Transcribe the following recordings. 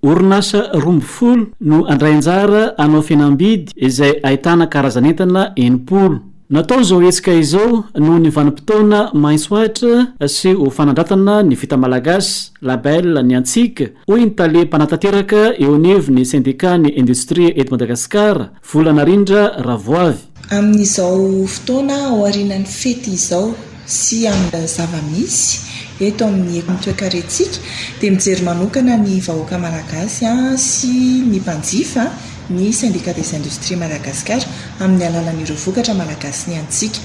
Orinasa roa ambin'ny folo no handray anjara hanao fihenam-bidy izay ahitana karazan'entana enimpolo. Natao izao hetsika izao noho ny vanim-potoana maitso Atra sy ho fanandratana ny vita malagasy, label, ny antsika, hoy ny tale mpanatanteraka eo anivon'ny sendikàn'ny indostria eto Madagasikara, Vola narindra ravoavy. Amin'izao fotoana aorianan'ny fety izao sy amin'ny zava-misy eto amin'ny ekon'ny toekarentsika dia mijery manokana ny vahoaka malagasy sy ny mpanjifa ny Syndicat des Industries Madagascar amin'ny alalan'ireo vokatra malagasy ny antsika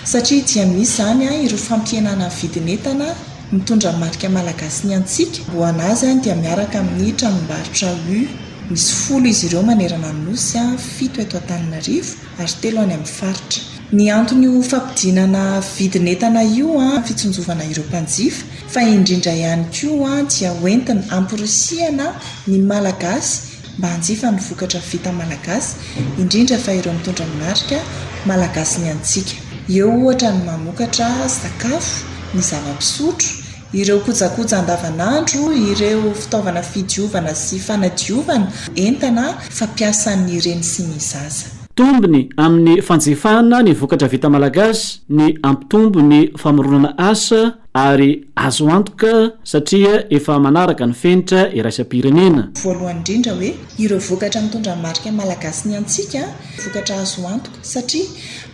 satria dia misy izany ireo fampihenana vidin'entana mitondra marika malagasy ny antsika, amboanazy dia miaraka amin'ny tranombarotra U. Misy folo izy ireo manerana ny Nosy, fito eto Antananarivo ary telo any amin'ny faritra. Ny antony io fampidinana vidin'entana io fitsinjovana ireo mpanjifa fa indrindra ihany koa dia hoentina hamporisihana ny Malagasy mba hanjifa ny vokatra vita Malagasy indrindra fa ireo mitondra ny marika Malagasy ny antsika. Eo ohatra ny mamokatra sakafo, ny zava-pisotro, Ireo kojakoja andavanandro, ireo fitaovana fidiovana sy fanadiovana, entana fampiasan'ny reny sy ny zaza. Tombony amin'ny fanjifana ny vokatra vita malagasy ny hampitombo ny famoronana asa ary azo antoka satria efa manaraka ny fenitra iraisam-pirenena. Voalohany indrindra hoe Ireo vokatra mitondra ny marika malagasy ny antsika dia vokatra azo antoka satria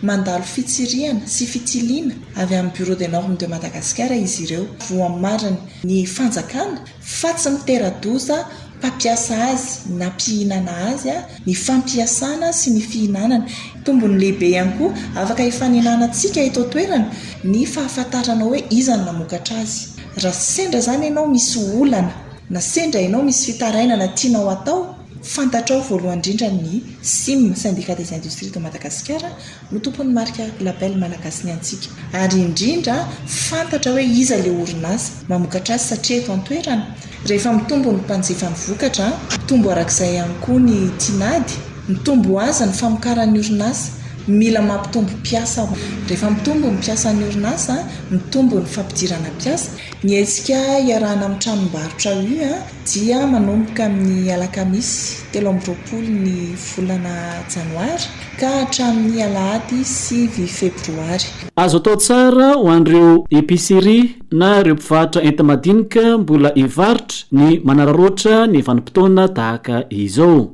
mandalo fitsirihana sy fitiliana avy amin'ny Bureau des normes de Madagascar izy ireo. Voamariny ny fanjakana fa tsy mitera-doza mpampiasa azy na mpihinana azy ny fampiasana sy ny fihinanana. Tombony lehibe ihany koa afaka hifaninanantsika eto an-toerana ny fahafantarana hoe iza no namokatra azy. Raha sendra izany ianao misy olana. Na sendra ianao misy fitarainana tianao atao, fantatrao voalohany indrindra ny sim, Syndicat des Industries de Madagasikara, no tompon'ny marika label malagasy ny antsika. Ary indrindra, fantatra hoe iza ilay orinasa mamokatra azy satria eto an-toerana. Rehefa mitombo ny mpanjifa ny vokatra, mitombo arak'izay ihany koa ny tinady, mitombo ho azy ny famokaran'ny orinasa. Mila mampitombo mpiasa. Rehefa mitombo ny mpiasan'ny orinasa, mitombo ny fampidirana mpiasa. Ny hetsika iarahana amin'ny tranombarotra U dia manomboka amin'ny alakamisy telo amby roapolo ny volana janoary ka hatramin'ny alahady sivy febroary. Azo atao tsara ho an'ireo epicerie na ireo mpivarotra enti-madinika mbola hivarotra ny manararaotra ny vanim-potoana tahaka izao.